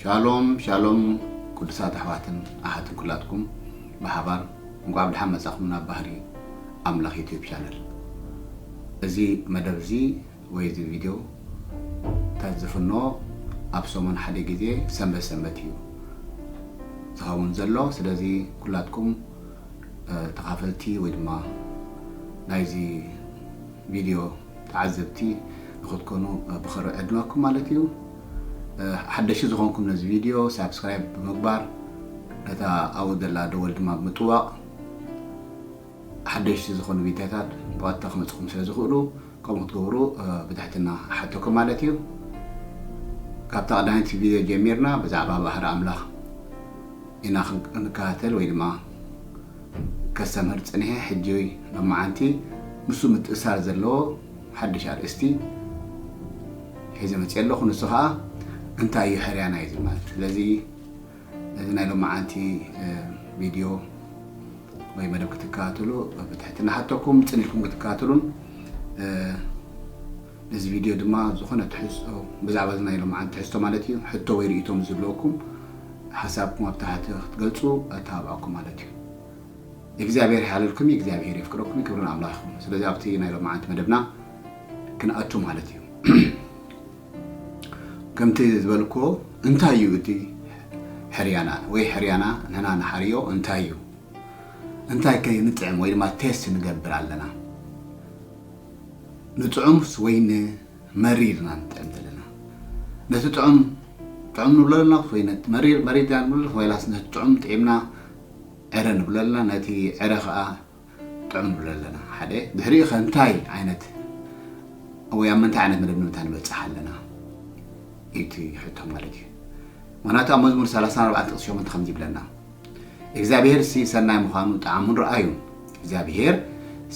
ሻሎም ሻሎም ቅዱሳት ኣሕዋትን ኣሓትን ኩላትኩም ብሓባር እንቋዕ ብድሓን መጻኹም ናብ ባህሪ ኣምላኽ ዩቲዩብ ቻነል እዚ መደብ እዚ ወይ እዚ ቪድዮ ታት ዝፍኖ ኣብ ሰሙን ሓደ ግዜ ሰንበት ሰንበት እዩ ዝኸውን ዘሎ ስለዚ ኩላትኩም ተኻፈልቲ ወይ ድማ ናይዚ ቪድዮ ተዓዘብቲ ንክትኮኑ ብክሪ ዕድመኩም ማለት እዩ ሓደሽቲ ዝኮንኩም ነዚ ቪድዮ ሳብስክራይብ ብምግባር ነታ ኣብኡ ዘላ ደወል ድማ ብምጥዋቅ ሓደሽቲ ዝኮኑ ቪድዮታት ብቀጥታ ክመፅኩም ስለ ዝክእሉ ከምኡ ክትገብሩ ብትሕትና ሓተኩም ማለት እዩ ካብታ ቀዳመይቲ ቪድዮ ጀሚርና ብዛዕባ ባህሪ ኣምላኽ ኢና ክንከታተል ወይ ድማ ከስተምህር ጽኒሔ ሕጂ ሎማዓንቲ ንሱ ምትእሳር ዘለዎ ሓድሽ ኣርእስቲ ሒዘ መጽየ ኣለኹ ንሱ ከኣ እንታይ እዩ ሕርያ ናይ ዝማል ስለዚ ነዚ ናይ ሎማዓንቲ ቪድዮ ወይ መደብ ክትከታተሉ ብትሕትና ሓተኩም ጽን ኢልኩም ክትከታተሉን ነዚ ቪድዮ ድማ ዝኾነ ትሕዝቶ ብዛዕባ እዚ ናይ ሎምዓንቲ ትሕዝቶ ማለት እዩ ሕቶ ወይ ርእይቶ ምስ ዝህልወኩም ሓሳብኩም ኣብ ታሕቲ ክትገልጹ ኣተባብዓኩም ማለት እዩ። እግዚኣብሔር ይሓልልኩም እዩ እግዚኣብሔር የፍቅረኩም እዩ ክብሪ ንኣምላኽ ይኹን። ስለዚ ኣብቲ ናይ ሎምዓንቲ መደብና ክንኣቱ ማለት እዩ። ከምቲ ዝበልኩዎ እንታይ እዩ እቲ ሕርያና ወይ ሕርያና ንሕና ንሓርዮ እንታይ እዩ እንታይ ከ ንጥዕም ወይ ድማ ቴስት ንገብር ኣለና ንጥዑምስ ወይ ንመሪር ኢና ንጥዕም ዘለና? ነቲ ጥዑም ጥዑም ንብሎ ኣለናስ ወይ ነቲ መሪር መሪር ኢና ንብሎ ኣለና? ወይላስ ነቲ ጥዑም ጥዒምና ዕረ ንብሎ ኣለና ነቲ ዕረ ከኣ ጥዑም ንብሎ ኣለና? ሓደ ድሕሪኡ ከ እንታይ ዓይነት ወይ ኣብ ምንታይ ዓይነት መደምደምታ ንበጽሕ ኣለና እዩ እቲ ሕቶ ማለት እዩ። ምክንያቱ ኣብ መዝሙር ሰላሳን ኣርባዓን ጥቕሲ ሸሞንተ ከምዚ ይብለና እግዚኣብሄር ሲ ሰናይ ምዃኑ ጠዓሙን ረኣዩን እግዚኣብሄር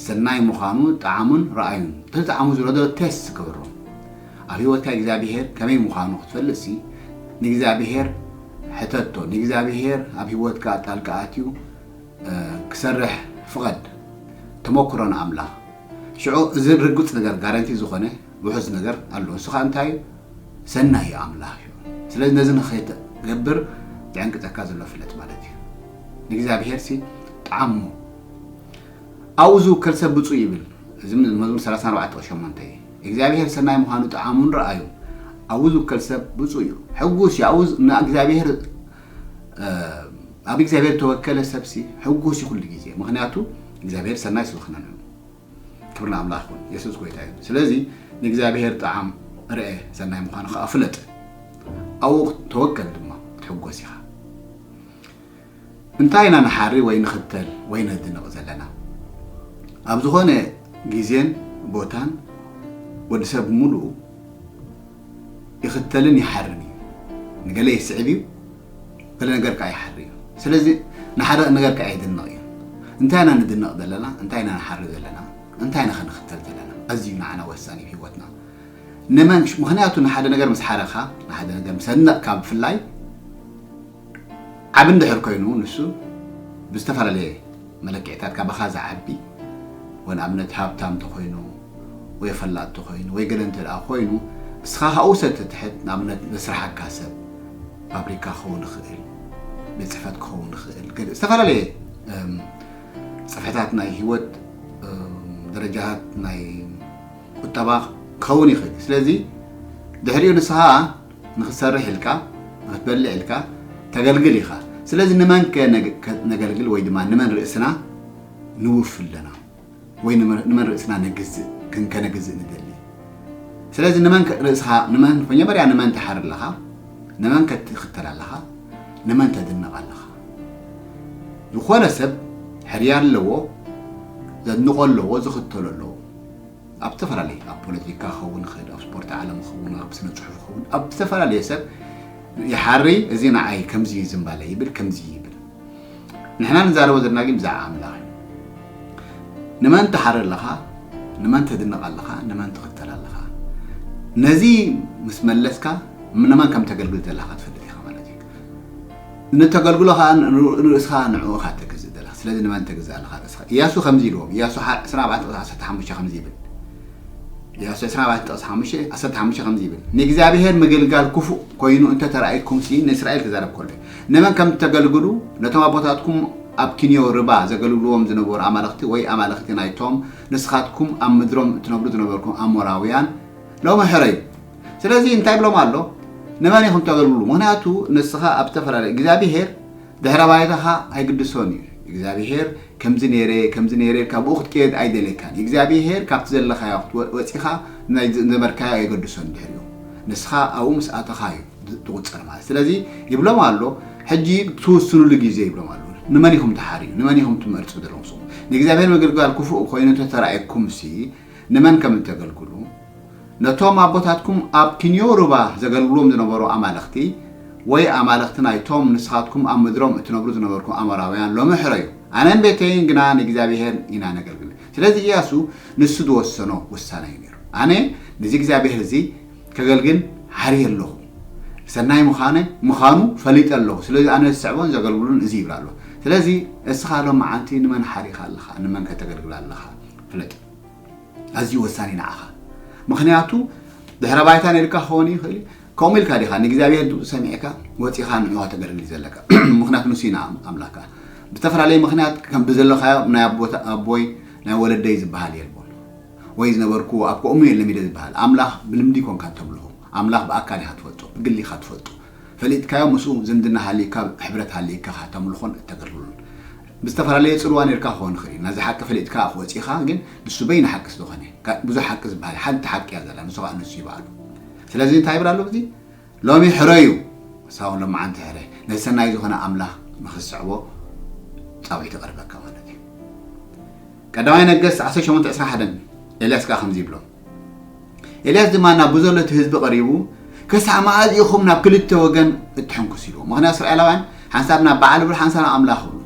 ሰናይ ምዃኑ ጠዓሙን ረኣዩን ተጣዕሙ ዝረዶ ቴስት ክብሮ ኣብ ህይወትካ እግዚኣብሄር ከመይ ምዃኑ ክትፈልጥ ሲ ንእግዚኣብሄር ሕተቶ ንእግዚኣብሄር ኣብ ህይወትካ ጣልቃ ኣትዩ ክሰርሕ ፍቐድ ተመክሮ ንኣምላኽ ሽዑ እዚ ርግፅ ነገር ጋረንቲ ዝኾነ ውሑስ ነገር ኣሎ እሱ ኸኣ እንታይ እዩ ሰናይ እዩ ኣምላኽ እዩ ስለዚ ነዚ ንኸይትገብር ዝዕንቅጸካ ዘሎ ፍለጥ ማለት እዩ ንእግዚኣብሔር ሲ ጣዓሞ ኣብኡ ዝውከል ሰብ ብፁእ ይብል እዚ መዝሙር 34 ቁጥሪ 8 እዩ እግዚኣብሔር ሰናይ ምዃኑ ጣዓሙን ረኣዩ ኣብኡ ዝውከል ሰብ ብፁእ እዩ ሕጉስ እዩ ኣብኡ ንእግዚኣብሔር ኣብ እግዚኣብሔር ተወከለ ሰብሲ ሕጉስ እዩ ኩሉ ግዜ ምክንያቱ እግዚኣብሔር ሰናይ ስለዝኾነ ክብሪ ንኣምላኽ ይኹን የሱስ ጎይታ እዩ ስለዚ ንእግዚኣብሄር ጣዕም ርኤ ሰናይ ምዃኑ ከዓ ፍለጥ ኣብኡ ተወከል ድማ ክትሕጎስ ኢኻ እንታይ ኢና ንሓሪ ወይ ንኽተል ወይ ነድንቕ ዘለና ኣብ ዝኾነ ግዜን ቦታን ወዲ ሰብ ሙሉኡ ይኽተልን ይሓርን እዩ። ንገለ ይስዕብ እዩ፣ ገለ ነገር ከዓ ይሓሪ እዩ። ስለዚ ንሓርቕ ነገር ከዓ ይድነቕ እዩ። እንታይ ኢና ንድነቕ ዘለና? እንታይ ኢና ንሓሪ ዘለና? እንታይ ኢና ክንኽተል ዘለና? ኣዝዩ ንዓና ወሳኒ እዩ ህይወትና። ንመን ምኽንያቱ ንሓደ ነገር ምስ ሓረኻ ንሓደ ነገር ምስ ኣድነቕካ ብፍላይ ዓቢ እንድሕር ኮይኑ ንሱ ብዝተፈላለየ መለክዒታት ካባኻ ዝዓቢ ወይ ንኣብነት ሃብታም እንተኾይኑ ወይ ፈላጥ እንተኾይኑ ወይ ገለ እንተ ደኣ ኮይኑ እስኻ ካብኡ ሰብ ትትሕት ንኣብነት ዘስርሓካ ሰብ ፋብሪካ ክኸውን ይኽእል ቤት ጽሕፈት ክኸውን ይኽእል ገለ ዝተፈላለየ ጽፍሕታት ናይ ህይወት ደረጃታት ናይ ቁጠባ ክኸውን ይኽእል እዩ ስለዚ ድሕሪኡ ንስኻ ንኽትሰርሕ ኢልካ፣ ንኽትበልዕ ኢልካ ተገልግል ኢኻ። ስለዚ ንመንከ ነገልግል ወይ ድማ ንመን ርእስና ንውፊ ኣለና? ወይ ንመን ርእስና ነግዝእ፣ ክንከነግዝእ ንደሊ? ስለዚ ንመንከ ርእስኻ፣ ንመን መጀመርያ ንመን ትሓሪ ኣለኻ? ንመንከ ትኽተል ኣለኻ? ንመን ተድንቕ ኣለኻ? ዝኾነ ሰብ ሕርያ ኣለዎ፣ ዘድንቖ ኣለዎ፣ ዝኽተሎ ኣለዎ። ኣብ ዝተፈላለየ ኣብ ፖለቲካ ክኸውን ይኽእል፣ ኣብ ስፖርት ዓለም ክኸውን፣ ኣብ ስነ ጽሑፍ ክኸውን፣ ኣብ ዝተፈላለየ ሰብ ይሓሪ፣ እዚ ንዓይ ከምዚ እዩ ዝምባለ ይብል፣ ከምዚ ይብል። ንሕና ንዛረቦ ዘለና ግን ብዛዕባ ኣምላኽ እዩ። ንመን ትሓሪ ኣለኻ? ንመን ተድንቕ ኣለኻ? ንመን ትኽተል ኣለኻ? ነዚ ምስ መለስካ ንመን ከም ተገልግል ዘለኻ ክትፈልጥ ኢኻ ማለት እዩ። ንተገልግሎ ከኣ ንርእስኻ ንዕኡ እኻ እተግዝእ ዘለኻ ስለዚ ንመን ተግዝእ ኣለኻ ርእስኻ ኢያሱ ከምዚ ኢልዎም ኢያሱ ሓ ዕስራን ኣርባዕተን ጥቕሲ ዓሰርተ ሓሙሽተ ከምዚ ይብል ኢያሱ ዕስራን ኣርባዕተን ጥቕሲ ሓሙሽተ ዓሰርተ ሓሙሽተ ከምዚ ይብል ንእግዚኣብሄር ምግልጋል ክፉእ ኮይኑ እንተ ተራእይኩምሲ ንእስራኤል ክዛረብ ከሎ እዩ ንመን ከም እተገልግሉ ነቶም ኣቦታትኩም ኣብ ኪንዮ ርባ ዘገልግልዎም ዝነበሩ ኣማልኽቲ ወይ ኣማልኽቲ ናይቶም ንስኻትኩም ኣብ ምድሮም እትነብሩ ዝነበርኩም ኣሞራውያን ሎሚ ሕረዩ ስለዚ እንታይ ብሎም ኣሎ ንመን ኢኹም ተገልግሉ ምክንያቱ ንስኻ ኣብ ዝተፈላለየ እግዚኣብሄር ድሕረ ባይታኻ ኣይግድሶን እዩ እግዚኣብሄር ከምዚ ነይረ ከምዚ ነይረ ኢልካ ብኡ ክትቀየድ ኣይደልየካን እግዚኣብሄር ካብቲ ዘለኻዮ ክትወፂኻ ናይ ዘመርካዮ ኣየገድሶን ድሕሪኡ ንስኻ ኣብኡ ምስ ኣተኻ እዩ ትቁፀር ማለት ስለዚ ይብሎም ኣሎ ሕጂ ትውስኑሉ ግዜ ይብሎም ኣሎ ንመን ኢኹም ትሓርዩ ንመን ኢኹም ትመርፁ ዘለኹም ንእግዚኣብሔር ምግልጋል ክፉእ ኮይኑ ተተራእየኩምሲ ንመን ከም እተገልግሉ፣ ነቶም ኣቦታትኩም ኣብ ኪንዮ ሩባ ዘገልግሉዎም ዝነበሩ ኣማልኽቲ፣ ወይ ኣማልኽቲ ናይቶም ንስኻትኩም ኣብ ምድሮም እትነብሩ ዝነበርኩም ኣሞራውያን ሎሚ ሕረዩ። ኣነን ቤተይን ግና ንእግዚኣብሄር ኢና ነገልግል። ስለዚ እያሱ ንሱ ዝወሰኖ ውሳነ እዩ ነይሩ። ኣነ ነዚ እግዚኣብሄር እዚ ከገልግል ሓርየ ኣለኹ። ሰናይ ምዃነ ምዃኑ ፈሊጠ ኣለኹ። ስለዚ ኣነ ዝስዕቦን ዘገልግሎን እዚ ይብል ኣሎ። ስለዚ እስኻ ሎምዓንቲ ንመን ሓሪኻ ኣለኻ? ንመንከ ተገልግል ኣለኻ? ፍለጥ ኣዝዩ ወሳኒ ንዓኻ ምክንያቱ ድሕረ ባይታ ነልካ ክኸውን ይኽእል እዩ ከምኡ ኢልካ ዲኻ ንእግዚኣብሔር ድምፁ ሰሚዕካ ወፂኻ ንዑዋ ተገልግል ዘለካ ምክንያቱ ንሱ ኢና ኣምላካ ብዝተፈላለየ ምክንያት ከም ብዘለካዮ ናይ ኣቦይ ናይ ወለደይ ዝበሃል የልቦን ወይ ዝነበርኩ ኣብ ከምኡ እየ ለሚደ ዝበሃል ኣምላኽ ብልምዲ ኮንካ ተምልኹ ኣምላኽ ብኣካል ኢኻ ትፈልጦ ብግሊ ኢኻ ትፈልጦ ፈሊጥካዮ ምስኡ ዝምድና ሃሊካ ሕብረት ሃሊካ ተምልኾን እተገልግሉን ብዝተፈላለየ ጽልዋ ኔርካ ክኾን ይኽእል እዩ፣ ናዚ ሓቂ ፈሊጥካ እኽ ወጺእኻ ግን ንሱ በይኑ ሓቂ ስለኾነ፣ ካልእ ብዙሕ ሓቂ ዝበሃል የለን፣ ሓንቲ ሓቂ እያ ዘላ ንሱ ኸኣ ንሱ እዩ ባዕሉ። ስለዚ እንታይ ይብል ኣሎ ኣብዚ ሎሚ ሕረዩ ንስኻ ውን ሎምዓንቲ ሕረ ነቲ ሰናይ ዝኾነ ኣምላኽ ንኽትስዕቦ ጻውዒት ይቐርበካ ማለት እዩ። ቀዳማይ ነገስት ዓሰርተ ሸሞንተ ዕስራን ሓደን ኤልያስ ከኣ ከምዚ ይብሎ። ኤልያስ ድማ ናብ ብዘሎ እቲ ህዝቢ ቀሪቡ ክሳዕ መኣዝ ኢኹም ናብ ክልተ ወገን እትሕንክሱ ኢልዎ ምክንያት እስራኤላውያን ሓንሳብ ናብ በዓል ብሎ ሓንሳብ ናብ ኣምላኽ ብሉ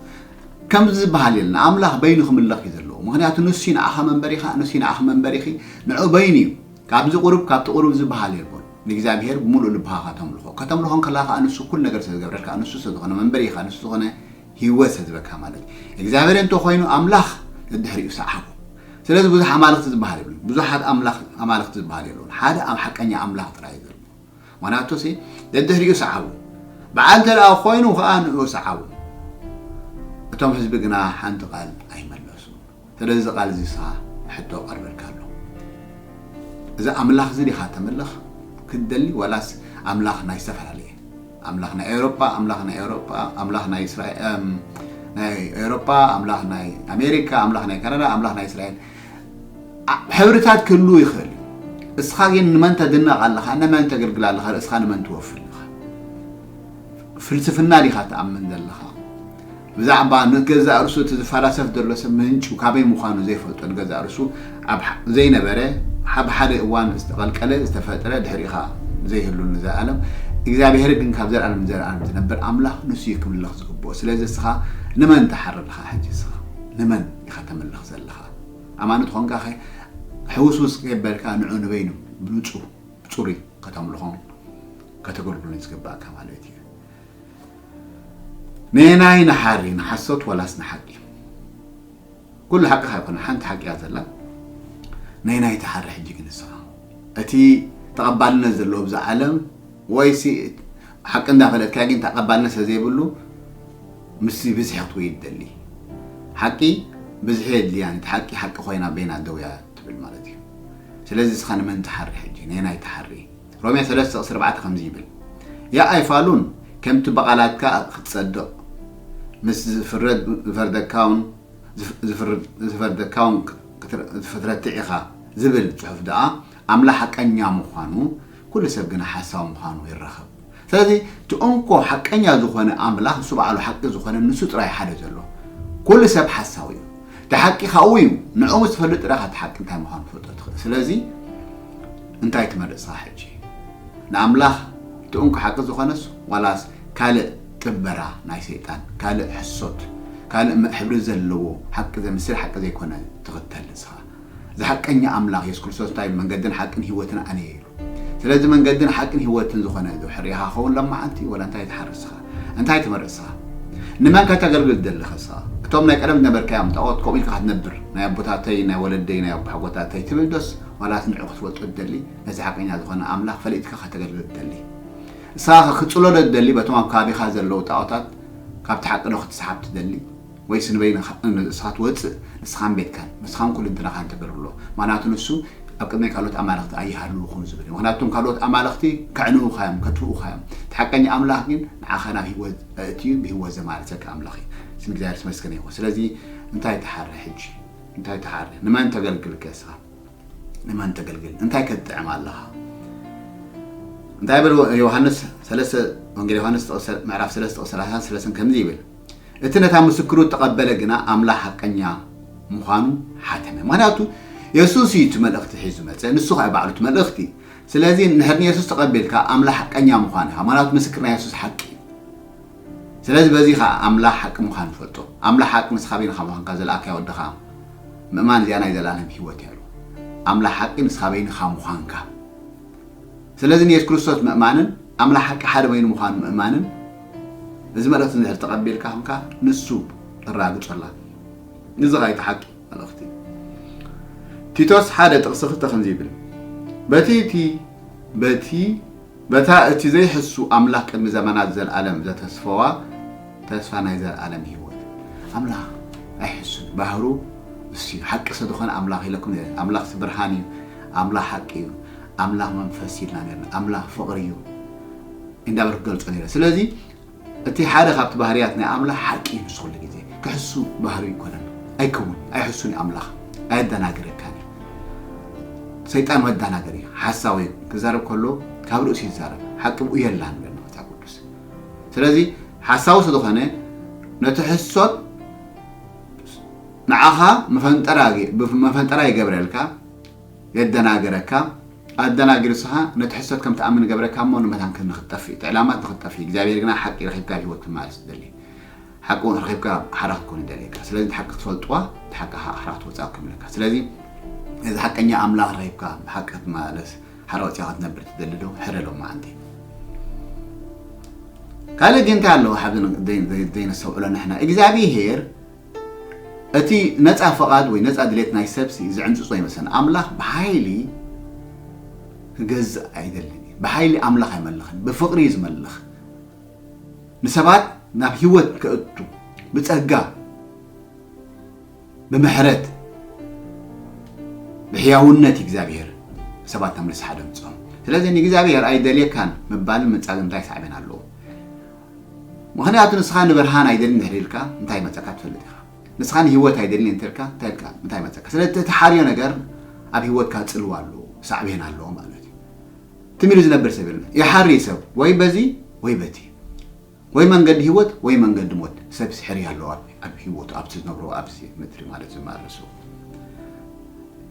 ከምዚ ዝበሃል የለን ኣምላኽ በይኑ ክምለኽ እዩ ዘለዎ ምክንያቱ ንሱ ንኣኻ መንበሪ ኢኻ ንሱ ንኣኺ መንበሪ ኢኺ ንዑ በይኑ እዩ ካብዚ ቁሩብ ካብቲ ቁሩብ ዝበሃል የልቦን ንእግዚኣብሄር ብምሉእ ልብኻ ከተምልኾ ከተምልኾ ከለኻ ከዓ ንሱ ኩሉ ነገር ስለ ዝገብረልካ ንሱ ስለ ዝኾነ መንበሪ ኢኻ ንሱ ዝኾነ ህይወት ስለ ዝበካ ማለት እዩ እግዚኣብሔር እንተ ኮይኑ ኣምላኽ ደድሕሪኡ ሰዓቦ ስለዚ ብዙሕ ኣማልኽቲ ዝበሃል የብሉን ብዙሓት ኣምላኽ ኣማልኽቲ ዝበሃል የለውን ሓደ ኣብ ሓቀኛ ኣምላኽ ጥራይ እዩ ዘሎ ምክንያቱ ሲ ደድሕሪኡ ሰዓቦ በዓል እንተ ደኣ ኮይኑ ከኣ ንኡ ሰዓቦ እቶም ህዝቢ ግና ሓንቲ ቃል ኣይመለሱ ስለዚ እዚ ቃል እዚ ስኻ ሕቶ ቀርበልካ ኣሎ እዚ ኣምላኽ እዚ ዲኻ ተምልኽ ክትደሊ ዋላስ ኣምላኽ ናይ ዝተፈላለየ ኣምላኽ ናይ ኤውሮጳ ኣምላኽ ናይ ኤውሮጳ ኣምላኽ ናይ እስራኤል ናይ ኤውሮጳ ኣምላኽ ናይ ኣሜሪካ ኣምላኽ ናይ ካናዳ ኣምላኽ ናይ እስራኤል ሕብርታት ክህልው ይኽእል እስኻ ግን ንመን ተድነቕ ኣለኻ ንመን ተገልግል ኣለኻ ርእስኻ ንመን ትወፍር ኣለኻ ፍልስፍና ዲኻ ትኣምን ዘለኻ ብዛዕባ ንገዛእ ርእሱ እቲ ዝፈላሰፍ ዘሎ ሰብ ምንጩ ካበይ ምዃኑ ዘይፈልጦ ንገዛእ ርእሱ ኣብ ዘይነበረ ኣብ ሓደ እዋን ዝተቐልቀለ ዝተፈጥረ ድሕሪኻ ዘይህሉ ንዘልኣለም እግዚኣብሄር ግን ካብ ዘልኣለም ንዘልኣለም ዝነብር ኣምላኽ ንሱ እዩ ክምለኽ ዝግብኦ ስለዚ እስኻ ንመን ትሓር ኣለኻ ሕጂ እስኻ ንመን ኢኻ ተምልኽ ዘለኻ ኣማኒ ትኾንካ ኸ ሕውስውስ ከይበልካ ንዑ ንበይኑ ብንጹህ ብጽሩይ ከተምልኾም ከተገልግሉን ዝግባእካ ማለት እዩ ነየናይ ንሓሪ ንሓሶት ወላስ ንሓቂ ኩሉ ሓቂ ካይኮነ ሓንቲ ሓቂ እያ ዘላ ነየናይ ትሓሪ ሕጂ ግን ንስኻ እቲ ተቐባልነት ዘለዎ ኣብዚ ዓለም ወይሲ ሓቂ እንዳፈለጥካ ግን ተቐባልነት ስለዘይብሉ ምስ ብዝሒ ክትውይድ ደሊ ሓቂ ብዝሒ የድልያን እቲ ሓቂ ሓቂ ኮይና በይና ደውያ ትብል ማለት እዩ ስለዚ እስኻ ንመን ትሓሪ ሕጂ ነየናይ ትሓሪ ሮሜ ሰለስተ ቁጽሪ ኣርባዕተ ከምዚ ይብል ያእ ኣይፋሉን ከምቲ ብቓላትካ ክትጸድቕ ምስ ዝፍረድ ዝፈርደካውን ዝፈርደካውን ክትረትዕ ኢኻ ዝብል ጽሑፍ ደኣ ኣምላኽ ሓቀኛ ምዃኑ ኩሉ ሰብ ግና ሓሳዊ ምዃኑ ይራኸብ ስለዚ እቲ እንኮ ሓቀኛ ዝኾነ ኣምላኽ ንሱ ባዕሉ ሓቂ ዝኾነ ንሱ ጥራይ ሓደ ዘሎ። ኩሉ ሰብ ሓሳዊ እዩ። እቲ ሓቂ ካብኡ እዩ። ንዕኡ ምስ ትፈልጥ ጥራይ ኢኻ እቲ ሓቂ እንታይ ምዃኑ ክትፈልጦ ትኽእል። ስለዚ እንታይ ትመርጽኻ ሕጂ? ንኣምላኽ እቲ እንኮ ሓቂ ዝኾነስ ዋላስ ካልእ ጥበራ ናይ ሰይጣን ካልእ ሕሶት ካልእ ሕብሪ ዘለዎ ሓቂ ዘምስል ሓቂ ዘይኮነ ትኽተል ንስኻ? እዚ ሓቀኛ ኣምላኽ የሱስ ክርስቶስ እንታይ ኢሉ መንገድን ሓቅን ህይወትን ኣነ እየ ኢሉ ስለዚ መንገድን ሓቅን ህይወትን ዝኾነ ዶ ሕርያ ኢኻ ክኸውን ሎም መዓልቲ ወላ እንታይ ትሓርስ ስኻ እንታይ ትመርጽ ስኻ ንመን ከተገልግል ትደሊ ከ ስኻ እቶም ናይ ቀደም ዝነበርካዮም ጣኦት ከምኡ ኢልካ ክትነብር ናይ ኣቦታተይ ናይ ወለደይ ናይ ኣቦሓጎታተይ ትብል ዶስ ዋላስ ንዑ ክትፈልጦ ትደሊ ነቲ ሓቀኛ ዝኾነ ኣምላኽ ፈሊጥካ ከተገልግል ትደሊ ንስኻ ከ ክትጽሎ ዶ ትደሊ በቶም ኣብ ከባቢኻ ዘለዉ ጣኦታት ካብቲ ሓቂ ዶ ክትስሓብ ትደሊ ወይስ ንበይንኻ ንሳ ትወጽእ ንስኻን ቤትካን ንስኻን ኩልንትናኻን ተገርሎ ምኽንያቱ ንሱ ኣብ ቅድመይ ካልኦት ኣማልኽቲ ኣይሃልዉኹም ዝብል እዩ ምኽንያቱ እቶም ካልኦት ኣማልኽቲ ከዕንዉኻ እዮም ከትፍኡኻ እዮም እቲ ሓቀኛ ኣምላኽ ግን ንዓኻ ናብ ሂወት ኣእትዩ ብሂወት ዘማልሰካ ኣምላኽ እዩ ስም እግዚኣብሔር የተመስገነ ይኹን ስለዚ እንታይ ትሓሪ ሕጂ እንታይ ትሓሪ ንመን ተገልግል ከ እስኻ ንመን ተገልግል እንታይ ከትጥዕም ኣለኻ እንታይ ይብል ዮሃንስ ሰለስተ ወንጌል ዮሃንስ ምዕራፍ ሰለስተ ቁጽሪ ሰላሳን ሰለስን ከምዚ ይብል እቲ ነታ ምስክሩ እተቐበለ ግና ኣምላኽ ሓቀኛ ምዃኑ ሓተመ። ምኽንያቱ የሱስ እዩ እቲ መልእኽቲ ሒዙ ዝመጸ፣ ንሱ ኸኣ ባዕሉ እቲ መልእኽቲ እዩ። ስለዚ እንድሕር ንየሱስ ተቐቢልካ ኣምላኽ ሓቀኛ ምዃኑ ኢኻ፣ ምኽንያቱ ምስክር ናይ የሱስ ሓቂ እዩ። ስለዚ በዚ ኸኣ ኣምላኽ ሓቂ ምዃኑ ፈልጦ። ኣምላኽ ሓቂ ንስኻ በይንኻ ምዃንካ ዝለኣካዮ ወድኻ ምእማን እዚኣ ናይ ዘለኣለም ህይወት እያ ኢሉ። ኣምላኽ ሓቂ ንስኻ በይንኻ ምዃንካ። ስለዚ ንየሱስ ክርስቶስ ምእማንን ኣምላኽ ሓቂ ሓደ በይኑ ምዃኑ ምእማንን እዚ መልእኽቲ እንድሕር ተቐቢልካ ኹንካ ንሱ እራግጸላ እዚ ኸኣ እቲ ሓቂ መልእኽቲ እዩ ቲቶስ ሓደ ጥቕሲ ክልተ ከምዚ ይብል በቲ እቲ በቲ በታ እቲ ዘይሕሱ ኣምላኽ ቅድሚ ዘመናት ዘልኣለም ዘተስፈዋ ተስፋ ናይ ዘልኣለም ህይወት ኣምላኽ ኣይሕሱን ባህሩ እሱ ሓቂ ስለዝኾነ ኣምላኽ ኢለኩም ኣምላኽ ብርሃን እዩ ኣምላኽ ሓቂ እዩ ኣምላኽ መንፈስ እዩ ኢልና ነርና። ኣምላኽ ፍቕሪ እዩ እንዳበልኩ ክገልጾ ነይረ። ስለዚ እቲ ሓደ ካብቲ ባህርያት ናይ ኣምላኽ ሓቂ እዩ። ንሱ ኩሉ ግዜ ክሕሱ ባህሪ ኣይኮነን፣ ኣይከውን፣ ኣይሕሱን እዩ። ኣምላኽ ኣየደናግረካን እዩ። ሰይጣን መደናገሪ እዩ፣ ሓሳዊ እዩ። ክዛረብ ከሎ ካብ ርእሱ ይዛረብ፣ ሓቂ ብኡ የላን ይብለና መጽሓፍ ቅዱስ። ስለዚ ሓሳዊ ስለዝኾነ ነቲ ሕሶት ንዓኻ መፈንጠራ መፈንጠራ ይገብረልካ የደናግረካ ኣደናጊሩ ስኻ ነቲ ሕሶት ከም ትኣምን ይገብረካ እሞ ንመታን ክም ንክትጠፍእ እቲ ዕላማት ንክትጠፍእ እግዚኣብሔር ግና ሓቂ ረኺብካ ብህይወት ክትመላለስ ትደሊ ሓቂ እውን ረኺብካ ሓራ ክትኮን ይደልየካ ስለዚ እቲ ሓቂ ክትፈልጥዋ እቲ ሓቂ ከዓ ሓራ ክትወፅኣ ክምለካ ስለዚ እዚ ሓቀኛ ኣምላኽ ረኺብካ ብሓቂ ክትመላለስ ሓራ ወፅያ ክትነብር ትደሊ ዶ ሕረ ሎማዓንቲ ካልእ ግን እንታይ ኣለዎ ሓብዚ ዘይነስተውዕሎ ንሕና እግዚኣብሔር እቲ ነጻ ፍቓድ ወይ ነጻ ድሌት ናይ ሰብሲ ዝዕንጽጾ ይመስለና። ኣምላኽ ብሓይሊ ክገዝእ ኣይደልን እዩ። ብሓይሊ ኣምላኽ ኣይመልኽን፣ ብፍቕሪ እዩ ዝመልኽ። ንሰባት ናብ ህይወት ከእቱ ብጸጋ ብምሕረት ብሕያውነት እዩ እግዚኣብሔር ሰባት ናብ ንስሓ ደምጾም። ስለዚ ንእግዚኣብሔር ኣይደልየካን ምባልን ምንጻግን እንታይ ሳዕቤን ኣለዎ? ምኽንያቱ ንስኻ ንብርሃን ኣይደልን ድሕሪ ኢልካ እንታይ መጸካ ትፈልጥ ኢኻ። ንስኻ ንህይወት ኣይደልን እየ እንተልካ እንታይ ኢልካ እንታይ መጸካ። ስለቲ እትሓርዮ ነገር ኣብ ህይወትካ ጽልዋ ኣለዎ፣ ሳዕቤን ኣለዎ ማለት እዩ። ትም ኢሉ ዝነብር ሰብ የለን። ይሓሪ ሰብ ወይ በዚ ወይ በቲ። ወይ መንገዲ ህይወት ወይ መንገዲ ሞት። ሰብስ ይሕሪ ኣለዎ ኣብ ህይወቱ ኣብቲ ዝነብሮ ኣብዚ ምድሪ ማለት ዝማረሱ።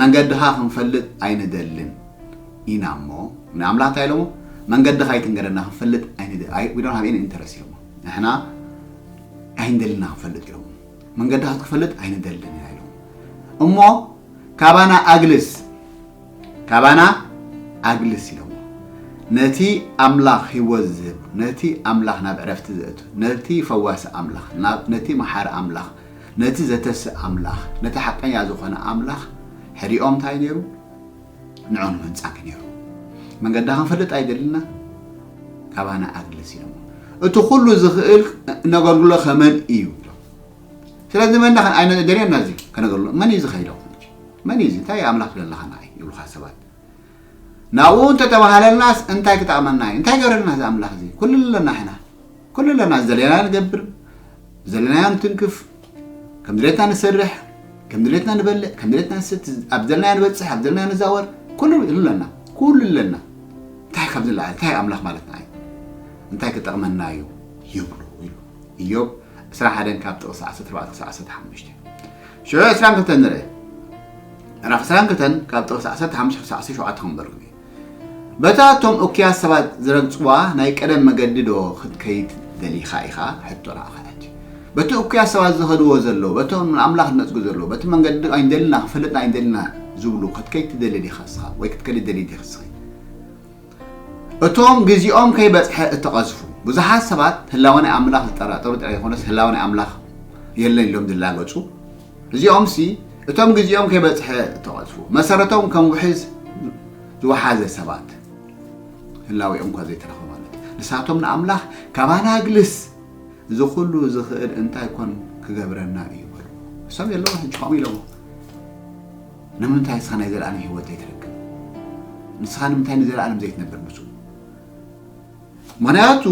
መንገድኻ ክንፈልጥ ኣይንደልን ኢና እሞ ንኣምላኽ እንታይ ኢሎሞ መንገድኻ ኣይትንገረና ክንፈልጥ ኣይንደ ኣይ we don't have any interest ኢሎሞ ንሕና ኣይንደልን ኢና ክንፈልጥ ኢሎሞ መንገድኻ ክትፈልጥ ኣይንደልን ኢና ኢሎሞ እሞ ካባና ኣግልስ ካባና ኣግልስ ኢሎሞ ነቲ ኣምላኽ ህይወት ዝህብ ነቲ ኣምላኽ ናብ ዕረፍቲ ዘእቱ ነቲ ፈዋሲ ኣምላኽ ነቲ መሓሪ ኣምላኽ ነቲ ዘተስእ ኣምላኽ፣ ነቲ ሓቀኛ ዝኾነ ኣምላኽ ሕድኦም ታይ ነይሩ? ንዑ ንመንጻኪ ነይሩ። መንገዳ ክንፈልጥ ኣይደልና ካባና ኣግልስ ኢሎሞ። እቲ ኩሉ ዝኽእል እነገልግሎ ከመን እዩ ኢሎም። ስለዚ መን ዳኸን ኣይነ ደልየና እዚ ከነገልግሎ መን እዩ ዝኸይዶ መን እዩ እዚ እንታይ ኣምላኽ ዘለኻና እዩ ይብሉኻ ሰባት ናብኡ እንተተባሃለልናስ እንታይ ክጠቕመና እዩ እንታይ ገረልና እዚ ኣምላኽ እዚ ኩሉ ኣለና ሕና ኩሉ ኣለና ዝደለና ንገብር ዘለናዮ ንትንክፍ ከም ድሌትና ንሰርሕ ከም ድሌትና ንበልዕ ከም ድሌትና ንሰቲ ኣብ ዘለና ንበፅሕ ኣብ ዘለና ንዛወር ኩሉ ኣለና ኩሉ ኣለና እንታይ ካብ ዝለዓል እንታይ ኣምላኽ ማለትና እዩ እንታይ ክጠቕመና እዩ ይብሉ ኢሉ እዮብ 21 ካብ ጥቕሲ 14 ክሳብ 15 ሽዑ 22 ንርኢ ምዕራፍ 22 ካብ ጥቕሲ 15 ክሳብ 17 ክንበርኩ እዩ በታ እቶም እኩያት ሰባት ዝረግጽዋ ናይ ቀደም መገዲ ዶ ኽትከይድ ደሊኻ ኢኻ? ሕቶ ንዓኻ ሕጂ። በቲ እኩያት ሰባት ዚኸድዎ ዘለዉ፣ በቶም ንኣምላኽ ዚነጽጉ ዘለዉ፣ በቲ መንገዲ ኣይንደልና፣ ኽንፈልጥ ኣይንደልና ዚብሉ ኽትከይድ ትደሊ ዲኻ እስኻ? ወይ ክትከዲ ትደልዪ ዲኺ እስኺ? እቶም ግዜኦም ከይበጽሐ እተቐዝፉ ብዙሓት ሰባት፣ ህላወ ናይ ኣምላኽ ዚጠራጠሩ ጥራይ ዘይኰነስ፣ ህላወ ናይ ኣምላኽ የለን ኢሎም ዚላገጹ፣ እዚኦምሲ እቶም ግዜኦም ከይበጽሐ እተቐዝፉ፣ መሰረቶም ከም ውሒዝ ዝወሓዘ ሰባት፣ ህላዌኦም'ኳ ዘይተረኽበ ማለት እዩ። ንሳቶም ንኣምላኽ ካባና ኣግልስ፣ እዚ ኹሉ ዝኽእል እንታይ ኮን ክገብረና እዩ በልዎ። ንሶም የለውን ሕጂ ከምኡ ኢሎሞ፣ ንምንታይ ንስኻ ናይ ዘለኣለም ህይወት ዘይትረክብ? ንስኻ ንምንታይ ንዘለኣለም ዘይትነብር ምስኡ? ምክንያቱ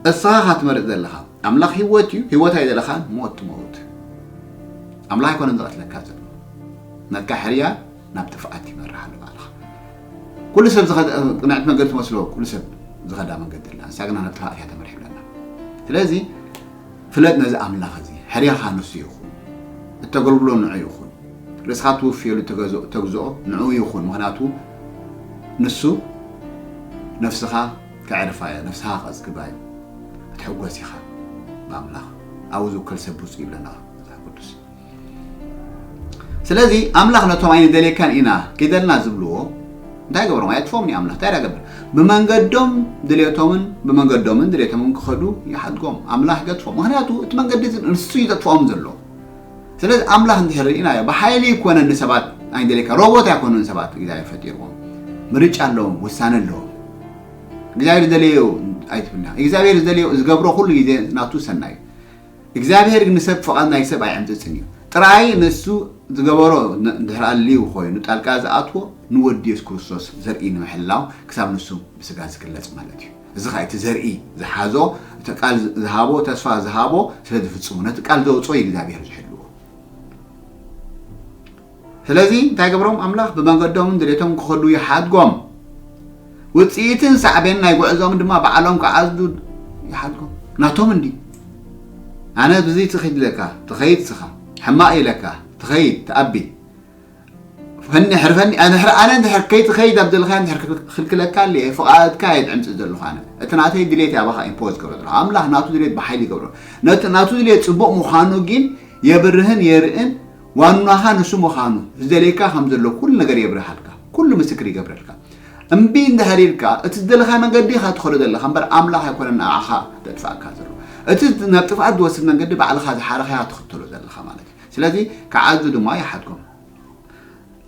እስኻ ኢኻ ትመርጽ ዘለኻ ኣምላኽ ሂወት እዩ ሂወት ኣይደለኻን ሞት ትመውት ኣምላኽ ኣይኮነን ዝቐትለካ ዘሎ ናትካ ሕርያ ናብ ጥፍኣት ይመርሕ ኣሎ ባዕልኻ ኩሉ ሰብ ቅንዕቲ መንገዲ ትመስሎ ኩሉ ሰብ ዝኸዳ መንገዲ ኣላ ንሳ ግና ናብ ጥፍኣት እያ ተመርሒ ብለና ስለዚ ፍለጥ ነዚ ኣምላኽ እዚ ሕርያኻ ንሱ ይኹን እተገልግሎ ንዑ ይኹን ርእስኻ ትውፍየሉ ተግዝኦ ንዕኡ ይኹን ምኽንያቱ ንሱ ነፍስኻ ከዕርፋ እዮ ነፍስኻ ከጽግባ እዩ ክትሕጎስ ኢኻ ብኣምላኽ ኣብኡ ዝውከል ሰብ ብፁዕ ይብለና መጽሓፍ ቅዱስ ስለዚ ኣምላኽ ነቶም ኣይንደልየካን ኢና ኪደልና ዝብልዎ እንታይ ገብሮም ኣየጥፎም ኒ ኣምላኽ እንታይ ገብር ብመንገዶም ድሌቶምን ብመንገዶምን ድሌቶምን ክኸዱ ይሓድጎም ኣምላኽ ይገጥፎም ምክንያቱ እቲ መንገዲ ንሱ ይጠጥፍኦም ዘሎ ስለዚ ኣምላኽ እንድሕር ርኢናዮ ብሓይሊ ኣይኮነን ንሰባት ኣይደልየካ ሮቦት ኣይኮኑን ሰባት እግዚኣብሔር ፈጢርዎም ምርጫ ኣለዎም ውሳነ ኣለዎም እግዚኣብሔር ዝደለዮ ኣይትብልና እግዚኣብሔር ዝደለዮ ዝገብሮ ኩሉ ግዜ ናቱ ሰናይ እዩ እግዚኣብሔር ግን ንሰብ ፍቓድ ናይ ሰብ ኣይዕምፅፅን እዩ ጥራይ ንሱ ዝገበሮ ድሕሪ ኣልዩ ኮይኑ ጣልቃ ዝኣትዎ ንወዲ የሱስ ክርስቶስ ዘርኢ ንምሕላው ክሳብ ንሱ ብስጋ ዝግለፅ ማለት እዩ እዚ ኸኣ እቲ ዘርኢ ዝሓዞ እቲ ቃል ዝሃቦ ተስፋ ዝሃቦ ስለ ዝፍጽሙ ነቲ ቃል ዘውጽኦ እዩ እግዚኣብሔር ዝሕልዎ ስለዚ እንታይ ገብሮም ኣምላኽ ብመገዶምን ድሌቶም ክኸዱ ይሓድጎም ውፅኢትን ሳዕቤን ናይ ጉዕዞም ድማ ባዕሎም ክዓዝዱ ይሓድጎም ናቶም እንዲ ኣነ ብዚ ትኺድ ለካ ትኸይድ ስኻ ሕማቕ ኢለካ ትኸይድ ትኣቢ ፈንሕር ፈኒ ኣንሕር ኣነ እንድሕር ከይትኸይድ ኣብ ዘለኻዮ እንድሕር ክልክለካ ኣልየ ፍቓድካ እየ ድዕምፅእ ዘለኹ ኣነ እቲ ናተይ ድሌት እየ ኣባኻ ኢምፖዝ ገብረ ዘለኹ ኣምላኽ ናቱ ድሌት ብሓይሊ ይገብሮ ነቲ ናቱ ድሌት ፅቡቕ ምዃኑ ግን የብርህን የርእን ዋናኻ ንሱ ምዃኑ ዝደልየካ ከም ዘሎ ኩሉ ነገር የብርሃልካ ኩሉ ምስክር ይገብረልካ እምቢ እንድሕር ኢልካ እቲ ዝደለኻዮ መንገዲ ኢኻ ትኸዶ ዘለኻ እምበር ኣምላኽ ኣይኮነን ንዓኻ ዘጥፍኣካ ዘሎ እቲ ናብ ጥፍኣት ዝወስድ መንገዲ ባዕልኻ ዝሓረኻያ ትኽተሎ ዘለኻ ማለት እዩ ስለዚ ክዓዙ ድማ ይሓትኩም።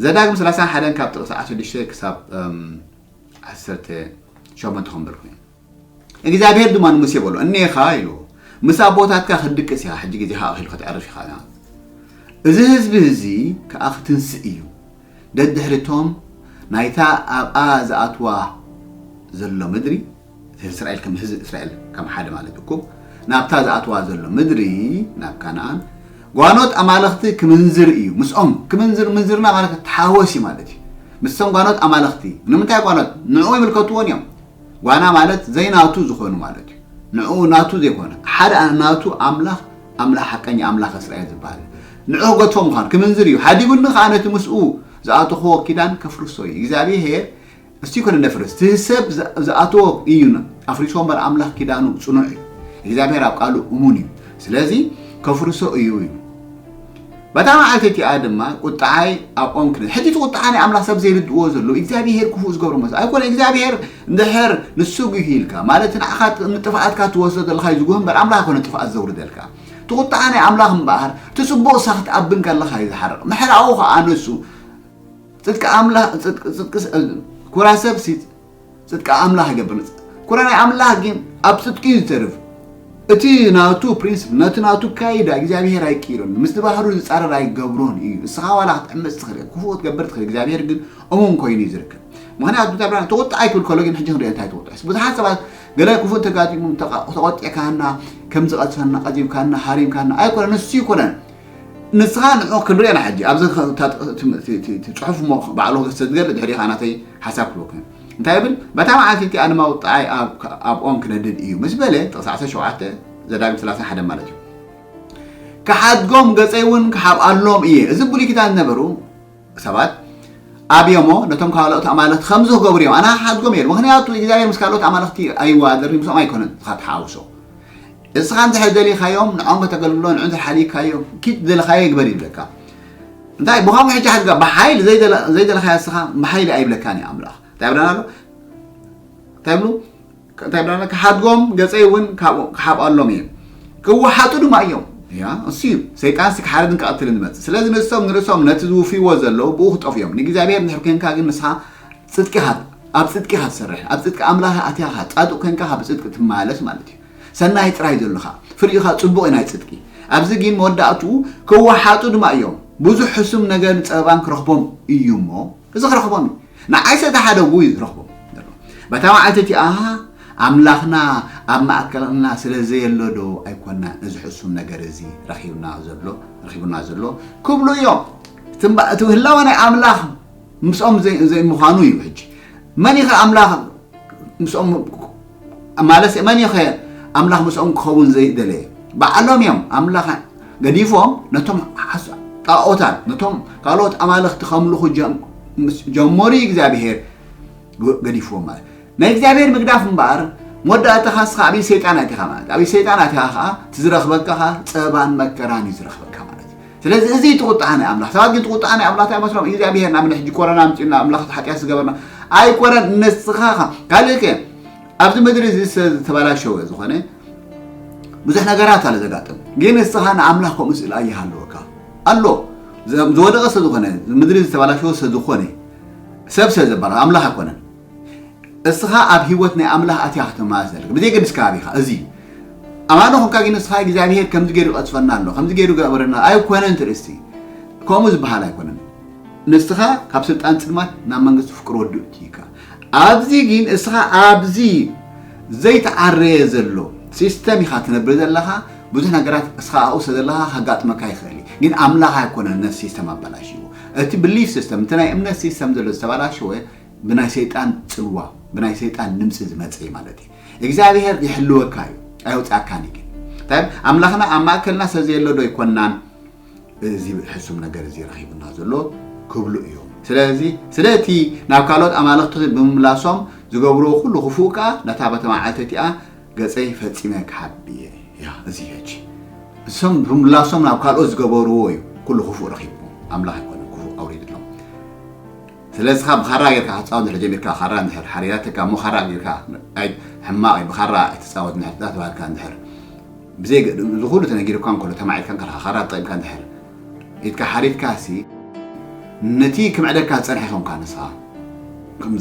ዘዳግም ሰላሳን ሓደን ካብ ጥቕሲ ዓሰርተ ሽዱሽተ ክሳብ ዓሰርተ ሸሞንተ ክንብል ኮይኑ እግዚኣብሄር ድማ ንሙሴ በሎ እኒኻ ኢሉ ምስ ኣቦታትካ ክትድቅስ ኢኻ ሕጂ ግዜኻ ኣኺሉ ክትዕርፍ ኢኻ እዚ ህዝቢ እዚ ከዓ ክትንስእ እዩ ደድሕሪ እቶም ናይታ ኣብኣ ዝኣትዋ ዘሎ ምድሪ፣ እቲ እስራኤል ከም ህዝቢ እስራኤል ከም ሓደ ማለት እኩብ ናብታ ዝኣትዋ ዘሎ ምድሪ ናብ ካናኣን ጓኖት ኣማልኽቲ ክምንዝር እዩ። ምስኦም ክምንዝር ምንዝርና ማለት ተሓወሲ ማለት እዩ። ምስቶም ጓኖት ኣማልኽቲ ንምንታይ ጓኖት ንዕኡ ይምልከትዎን እዮም። ጓና ማለት ዘይናቱ ዝኾኑ ማለት እዩ። ንዕኡ ናቱ ዘይኮነ ሓደ ናቱ ኣምላኽ ኣምላኽ ሓቀኛ ኣምላኽ እስራኤል ዝበሃል ንዑ ክገድፎ ምዃኑ ክምንዝር እዩ። ሓዲጉኒ ከኣ ነቲ ምስኡ ዝኣተኽዎ ኪዳን ከፍርሶ እዩ። እግዚኣብሔር እስቲ ይኮነ ነፍርስ እቲ ሰብ ዝኣትዎ እዩ ኣፍሪሶ እምበር ኣምላኽ ኪዳኑ ጽኑዕ እዩ። እግዚኣብሔር ኣብ ቃሉ እሙን እዩ። ስለዚ ከፍርሶ እዩ እዩ በታ መዓልቲ እቲኣ ድማ ቍጥዓይ ኣብኦም ክነ ሕጂ እቲ ቍጥዓ ናይ ኣምላኽ ሰብ ዘይርድእዎ ዘለዉ እግዚኣብሄር ክፉእ ዝገብሮ መስ ኣይኮነ እግዚኣብሄር እንድሕር ንሱ ጒሂ ኢልካ ማለት ንዓኻ ንጥፍኣትካ ትወስዶ ዘለኻ እዩ ዝጉህ እምበር ኣምላኽ ኣይኮነ ጥፍኣት ዘውርደልካ እቲ ቍጥዓ ናይ ኣምላኽ እምበኣር እቲ ጽቡቕ ሳኽ ትኣብን ከለኻ እዩ ዝሓርቕ ምሕራኡ ኸኣ ንሱ ጽድቂ ኣምላኽ ጽድቂ ኩራ ሰብ ጽድቂ ኣምላኽ ይገብር ነጻ ኩረ ናይ ኣምላኽ ግን ኣብ ጽድቂ እዩ ዝተርፍ እቲ ናቱ ፕሪንስፕ ነቲ ናቱ ካይዳ እግዚኣብሄር ኣይቅይሮን ምስ ባህሩ ዝጻረር ኣይገብሮን እዩ እስኻ ዋላ ክትዕምፅ ትኽእል ክፉእ ክትገብር ትኽእል እግዚኣብሄር ግን እሙን ኮይኑ እዩ ዝርከብ ምክንያቱ እግዚኣብሄር ተቆጣ ኣይክብል ከሎ ግን ሕጂ ክንሪኦ እንታይ ተቆጣዕስ ብዙሓት ሰባት ገለ ክፉእ እንተጋጢሙ ተቆጢዕካና ከም ዝቐዝፈና ቀዚብካና ሃሪምካና ኣይኮነ ንሱ ይኮነን ንስኻ ንዑ ክንሪኦ ኢና ሕጂ ኣብዚ ፅሑፍ እሞ ባዕሉ ክስተ ዝገለ ድሕሪ ኢኻ ናተይ ሓሳብ ክህበኩም እየ እንታይ ይብል በታ መዓልቲ እቲኣ ድማ ውጣኣይ ኣብ ኦም ክነድድ እዩ ምስ በለ ጥቕሲ 17 ዘዳግም 31 ማለት እዩ ክሓድጎም ገፀይ እውን ክሓብኣሎም እየ እዚ ብሉይ ኪዳን ዝነበሩ ሰባት ኣብዮሞ ነቶም ካልኦት ኣማልኽቲ ከምዚ ክገብሩ እዮም ኣነ ሓድጎም እየ ምክንያቱ እግዚኣብሔር ምስ ካልኦት ኣማልኽቲ ኣይዋደርን ምስኦም ኣይኮነን ዝካ ተሓውሶ እስኻ እንድሕር ደሊኻዮም ንዖም ከተገልግሎ ንዑ እንድሕር ሓዲግካዮም ኪድ ዝደለኻዮ ግበር ይብለካ እንታይ ብኸምኡ ሕጂ ሓድጋ ብሓይሊ ዘይደለኻያ እስኻ ብሓይሊ ኣይብለካን እዩ ኣምላኽ እንታይ ብለና ኣሎ እንታይ ብሉ እንታይ ብለና ክሓድጎም ገፀይ እውን ካብኡ ክሓብኣሎም እየ ክወሓጡ ድማ እዮም ያ እሱ እዩ ሰይጣን ሲ ክሓርድን ክቐትልን ዝመፅእ ስለዚ ንሶም ንርእሶም ነቲ ዝውፍይዎ ዘለዉ ብኡ ክጠፍ እዮም ንእግዚኣብሔር ንድሕር ኮንካ ግን ንስኻ ፅድቂ ካብ ኣብ ፅድቂ ካብ ትሰርሕ ኣብ ፅድቂ ኣምላኽ ኣትያኻ ፃዱቅ ኮንካ ካብ ፅድቂ ትመላለስ ማለት እዩ ሰናይ ጥራይ ዘሎኻ ፍሪኢኻ ጽቡቕ እዩ ናይ ጽድቂ ኣብዚ ጊን መወዳእትኡ ክዋሓጡ ድማ እዮም ብዙሕ ሕሱም ነገርን ጸበባን ክረኽቦም እዩ እሞ እዚ ክረኽቦም እዩ ንዓይ ሰተሓደጉ እዩ ዝረኽቦም ዘሎ በታ መዓልቲ እቲኣ ኣምላኽና ኣብ ማእከልና ስለ ዘየሎ ዶ ኣይኮናን እዚ ሕሱም ነገር እዚ ረኺብና ዘሎ ረኺቡና ዘሎ ክብሉ እዮም እቲ ህላወ ናይ ኣምላኽ ምስኦም ዘይምዃኑ እዩ ሕጂ መን ኢኸ ኣምላኽ ምስኦም ማለት እዩ መን ኸ ኣምላኽ ምስኦም ክኸውን ዘይደለየ በዓሎም እዮም ኣምላኽ ገዲፎም ነቶም ጣኦታት ነቶም ካልኦት ኣማልኽቲ ከምልኹ ጀመሩ እዩ እግዚኣብሄር ገዲፍዎም ማለት ናይ እግዚኣብሄር ምግዳፍ እምበኣር መወዳእታኻ ስኻ ኣብይ ሰይጣን ኣቲኻ ማለት ኣብይ ሰይጣን ኣቲኻ ከዓ እቲ ዝረኽበካ ኸዓ ፀባን መከራን እዩ ዝረኽበካ ማለት እዩ ስለዚ እዚ እዩ እቲ ቁጥዓ ናይ ኣምላኽ። ሰባት ግን እቲ ቁጥዓ ናይ ኣምላኽ እንታይ ይመስሎም? እግዚኣብሄር ንኣብነት ሕጂ ኮረና ኣምጺኡልና ኣምላኽ እቲ ሓጢኣት ዝገበርና ኣይኮነን ንስኻ ኢኻ። ካልእ ከ ኣብዚ ምድሪ እዚ ስለ ዝተበላሸወ ዝኾነ ብዙሕ ነገራት ኣሎ ዘጋጥም፣ ግን ንስኻ ንኣምላኽ ከምኡ ስእሊ ኣይሃለወካ ኣሎ ዝወደቐ ስለ ዝኾነ ምድሪ ዝተበላሸወ ስለ ዝኾነ ሰብ ስለ ዘበላሽ ኣምላኽ ኣይኮነን። እስኻ ኣብ ህይወት ናይ ኣምላኽ ኣትያ ክትመላለስ ዘለካ ብዘይገድስ ከባቢኻ እዚ ኣማኖ ኮንካ ግን እስኻ እግዚኣብሄር ከምዚ ገይሩ ይቐጽፈና ኣሎ ከምዚ ገይሩ ገበረና ኣይኮነን ትርእስቲ ከምኡ ዝበሃል ኣይኮነን ንስኻ ካብ ስልጣን ጽልማት ናብ መንግስቲ ፍቅሪ ወዱ እትይካ ኣብዚ ግን እስኻ ኣብዚ ዘይተዓረየ ዘሎ ሲስተም ኢኻ ትነብር ዘለኻ ብዙሕ ነገራት እስኻ ኣብኡ ስለ ዘለኻ ከጋጥመካ ይኽእል እዩ ግን ኣምላኽ ኣይኮነን ነቲ ሲስተም ኣበላሽዎ እቲ ብሊፍ ሲስተም እቲ ናይ እምነት ሲስተም ዘሎ ዝተበላሸወ ብናይ ሰይጣን ጽልዋ ብናይ ሰይጣን ንምጺ ዝመጸ እዩ ማለት እዩ እግዚኣብሔር ይሕልወካ እዩ ኣይወጽኣካን እዩ ግን እንታይ ኣምላኽና ኣብ ማእከልና ሰብ ዘየሎ ዶ ይኮናን እዚ ሕሱም ነገር እዚ ረኺቡና ዘሎ ክብሉ እዮም ስለዚ ስለቲ ናብ ካልኦት ኣማልኽቲ ብምምላሶም ዝገብርዎ ኩሉ ክፉእ ከዓ ነታ በቲ መዓልቲ እቲኣ ገፀይ ፈፂመ ክሓቢ እየ ያ እዚ ሕጂ እሶም ብምላሶም ናብ ካልኦት ዝገበርዎ እዩ ኩሉ ክፉእ ረኪብዎ ኣምላኽ ኣይኮነ ክፉእ ኣውሪድሎም ስለዚ እስኻ ብኻራ ጌርካ ክትጻወት እንድሕር ጀሚርካ ኻራ እንድሕር ሓሪራትካ እሞ ኻራ ጌርካ ኣይ ሕማቕ እዩ ብኻራ ኣይትጻወት እንድሕር ተባሂልካ እንድሕር ብዘይ እዚ ኩሉ ተነጊሩካ እንከሎ ተማዒትካ ከለኻ ኻራ ተጠቒምካ እንድሕር ኢድካ ሓሪድካሲ ነቲ ክምዕደካ ዝጸንሐ ይኸውንካ ንስኻ ከም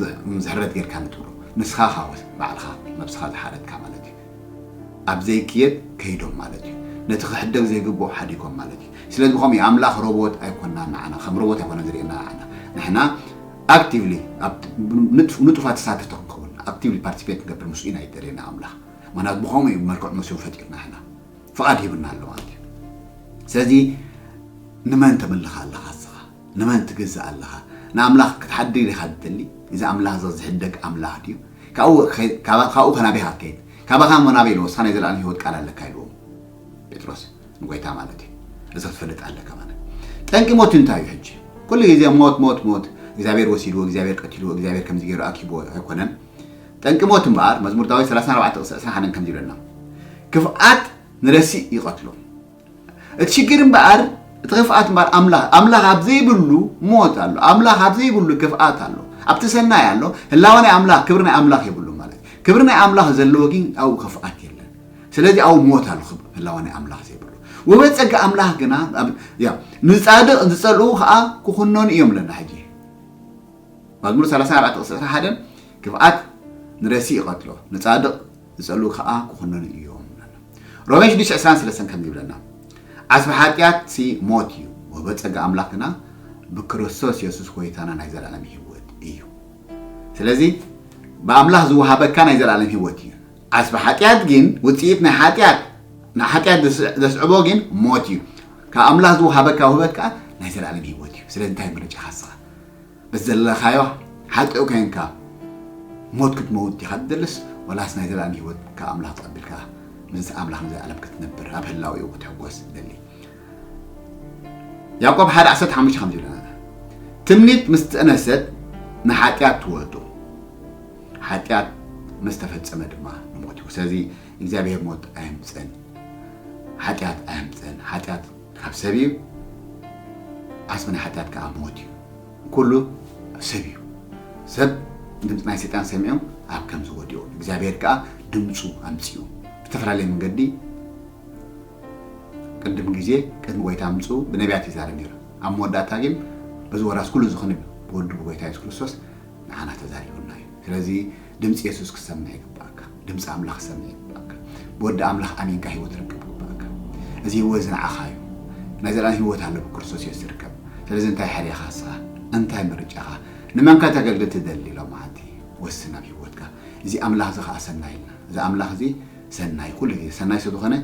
ዝሕረት ጌርካ ንትብሎ ንስኻ ኻወስ ባዕልኻ ነብስኻ ዝሓረድካ ማለት እዩ ኣብ ዘይክየድ ከይዶም ማለት እዩ ነቲ ክሕደግ ዘይግብኦ ሓዲጎም ማለት እዩ ስለዚ ከምኡ እዩ ኣምላኽ ሮቦት ኣይኮናን ንዓና ከም ሮቦት ኣይኮነን ዝርእየና ንዓና ንሕና ኣክቲቭሊ ንጡፋት ተሳተፍቲ ክንከውን ኣክቲቭሊ ፓርቲሲፔት ንገብር ምስኡ ኢና ይደልየና ኣምላኽ ምክንያቱ ብከምኡ እዩ መልክዑ መሲሉ ፈጢርና ሕና ፍቓድ ሂብና ኣሎ ማለት እዩ ስለዚ ንመን ተምልኽ ኣለኻ እስኻ ንመን ትግዛእ ኣለኻ? ንኣምላኽ ክትሓድግ ዲኻ ትደሊ? እዚ ኣምላኽ እዚ ዚሕደግ ኣምላኽ ድዩ? ካብኡ ኸይድ፣ ካባ፣ ካብኡኸ ናበይ ኢኻ ክትከይድ? ካባኻ እሞ ናበይ ኢልዎስ፣ ንስኻ ናይ ዘለኣለም ህይወት ቃል ኣለካ ኢልዎ ጴጥሮስ፣ ንጐይታ ማለት እዩ። እዚ ክትፈልጥ ኣለካ ማለት እዩ። ጠንቂ ሞት እንታይ እዩ ሕጂ? ኩሉ ግዜ ሞት፣ ሞት፣ ሞት፣ እግዚኣብሄር ወሲድዎ፣ እግዚኣብሄር ቀቲልዎ፣ እግዚኣብሄር ከምዚ ገይሩ ኣኪብዎ ኣይኮነን። ጠንቂ ሞት እምበኣር፣ መዝሙር ዳዊት ሰላሳን ኣርባዕተ ቕጽ ዕስራን ሓደን ከምዚ ይብለና፣ ክፍኣት ንረሲእ ይቐትሎ። እቲ ሽግር እምበኣር እቲ ክፍኣት እምበኣር ኣምላኽ ኣምላኽ ኣብ ዘይብሉ ሞት ኣሎ ኣምላኽ ኣብ ዘይብሉ ክፍኣት ኣሎ ኣብቲ ሰናይ ኣሎ ህላወ ናይ ኣምላኽ ክብሪ ናይ ኣምላኽ የብሉ ማለት ክብሪ ናይ ኣምላኽ ዘለዎ ግን ኣብኡ ክፍኣት የለን ስለዚ ኣብኡ ሞት ኣሎ ህላወ ናይ ኣምላኽ ዘይብሉ ውህበት ጸጋ ኣምላኽ ግና ንጻድቕ ዝጸልኡ ከዓ ክኹነኑ እዮም ኣለና ሕጂ መዝሙር 34 ቅስዕቲ ሓደን ክፍኣት ንረሲ ይቐትሎ ንጻድቕ ዝጸልኡ ከኣ ክኹነኑ እዮም። ሮሜ ሽዱሽተ ዕስራን ሰለስተን ከምዚ ይብለና፣ ዓስቢ ሓጢኣትሲ ሞት እዩ፣ ወህበ ጸጋ ኣምላኽ ግና ብክርስቶስ የሱስ ጐይታና ናይ ዘለኣለም ህይወት እዩ። ስለዚ ብኣምላኽ ዝወሃበካ ናይ ዘለኣለም ህይወት እዩ። ዓስቢ ሓጢኣት ግን፣ ውጽኢት ናይ ሓጢኣት፣ ንሓጢኣት ዘስዕቦ ግን ሞት እዩ። ካብ ኣምላኽ ዝወሃበካ ውህበት ከኣ ናይ ዘለኣለም ህይወት እዩ። ስለዚ እንታይ ምርጫኻ እስኻ? በቲ ዘለኻዮ ሓጥእ ኮይንካ ሞት ክትመውት ዲኻ ትደልስ ወላስ ናይ ዘልኣለም ህይወት ካብ ኣምላኽ ተቐቢልካ ምስ ኣምላኽ ንዘልኣለም ክትነብር ኣብ ህላዌኡ ክትሕጎስ ትደሊ? ያዕቆብ ሓደ ዓሰርተ ሓሙሽተ ከምዚ ይብለና ትምኒት ምስ ጠነሰት ንሓጢኣት ትወልዶ ሓጢኣት ምስ ተፈጸመ ድማ ንሞት እዩ። ስለዚ እግዚኣብሄር ሞት ኣየምጽእን፣ ሓጢኣት ኣየምጽእን። ሓጢኣት ካብ ሰብ እዩ ዓስቢ ናይ ሓጢኣት ከኣ ሞት እዩ። ኩሉ ሰብ እዩ ሰብ ድምጺ ናይ ሰይጣን ሰሚዑ ኣብ ከምዚ ወዲቁ እግዚኣብሔር ከኣ ድምጹ ኣምጺኡ ብዝተፈላለየ መንገዲ ቅድም ግዜ ቅድሚ ጎይታ ምምጽኡ ብነቢያት ይዛረብ ነይሩ ኣብ መወዳእታ ግን እዚ ወራስ ኩሉ ዝኽንብ ብወዱ ብጎይታ የሱስ ክርስቶስ ንዓና ተዛሪቡና እዩ ስለዚ ድምፂ የሱስ ክትሰምዕ ይግበኣካ። ድምፂ ኣምላኽ ክትሰምዕ ይግበኣካ። ብወዲ ኣምላኽ ኣሚንካ ህይወት ክትረክብ ይግበኣካ። እዚ ህይወት እዚ ንዓኻ እዩ። ናይ ዘለኣለም ህይወት ኣሎ ብክርስቶስ የሱስ ዝርከብ። ስለዚ እንታይ ሓዲኻ ንስኻ? እንታይ ምርጫኻ? ንመን ከተገልግል ትደሊ? ሎምዓንቲ ወስን ኣብ ህይወትካ። እዚ ኣምላኽ እዚ ኸኣ ሰናይ ኢልና። እዚ ኣምላኽ እዚ ሰናይ እዩ። ኩሉ ግዜ ሰናይ ስለዝኾነ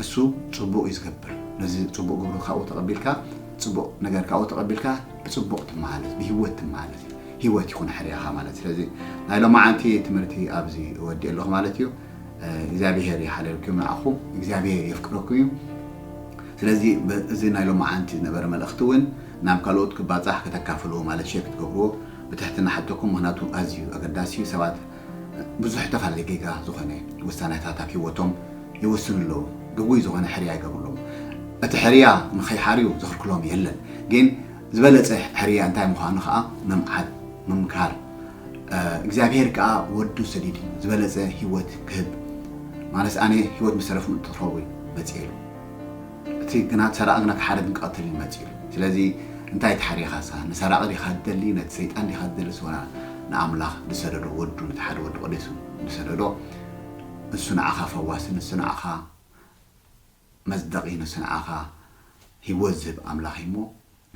እሱ ጽቡቅ እዩ ዝገብር ነዚ ጽቡቅ ግብሩ ካብኡ ተቀቢልካ ጽቡቅ ነገር ካብኡ ተቀቢልካ ብጽቡቅ ትመሃለስ ብሂወት ትመሃለስ ሂወት ይኹን ሕርያኻ ማለት ስለዚ ናይ ሎማዓንቲ ትምህርቲ ኣብዚ እወዲእ ኣለኹ ማለት እዩ እግዚኣብሄር ይሓለልኩም ንኣኹም እግዚኣብሄር የፍቅረኩም እዩ ስለዚ እዚ ናይ ሎማዓንቲ ዝነበረ መልእኽቲ እውን ናብ ካልኦት ክባፃሕ ከተካፍልዎ ማለት ሸር ክትገብርዎ ብትሕትና ሓተኩም ምክንያቱ ኣዝዩ ኣገዳሲ እዩ ሰባት ብዙሕ ተፋልሊ ጌጋ ዝኾነ ውሳነታት ኣብ ሂወቶም ይውስኑ ኣለዉ ግጉይ ዝኾነ ሕርያ ይገብሩ ኣለዉ እቲ ሕርያ ንኸይሓርዩ ዝኽልክሎም የለን ግን ዝበለጸ ሕርያ እንታይ ምዃኑ ከኣ ምምዓድ ምምካር እግዚኣብሄር ከኣ ወዱ ሰዲዱ ዝበለጸ ሂወት ክህብ ማለስ ኣነ ሂወት ምስ ተረፉ እትትኸውይ መጽኤሉ እቲ ግና ሰራቒ ግና ክሓርድን ክቐትልን እዩ መጺኡ ኢሉ። ስለዚ እንታይ ተሓሪኻሳ? ንሰራቒ ዲኻ ትደሊ? ነቲ ሰይጣን ዲኻ ትደልስ? ወላ ንኣምላኽ ዝሰደዶ ወዱ ነቲ ሓደ ወዱ ቀዲሱ ዝሰደዶ ንሱ ንዓኻ ፈዋሲ ንሱ ንዓኻ መጽደቒ ንሱ ንዓኻ ህይወት ዝህብ ኣምላኽ እዩ እሞ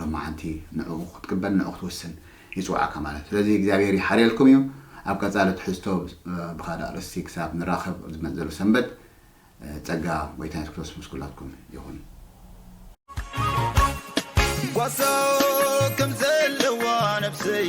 ሎማዓንቲ ንዕኡ ክትቅበል ንዕኡ ክትውስን ይጽውዓካ ማለት እዩ ስለዚ እግዚኣብሄር ይሓርየልኩም እዩ ኣብ ቀጻሊ ትሕዝቶ ብካልእ ኣርእስቲ ክሳብ ንራከብ ኣብ ዝመጽእ ዘሎ ሰንበት ጸጋ ጎይታ የሱስ ክርስቶስ ምስ ኩላትኩም ይኩን። ጓሳ ከምዘለዋ ነብሰይ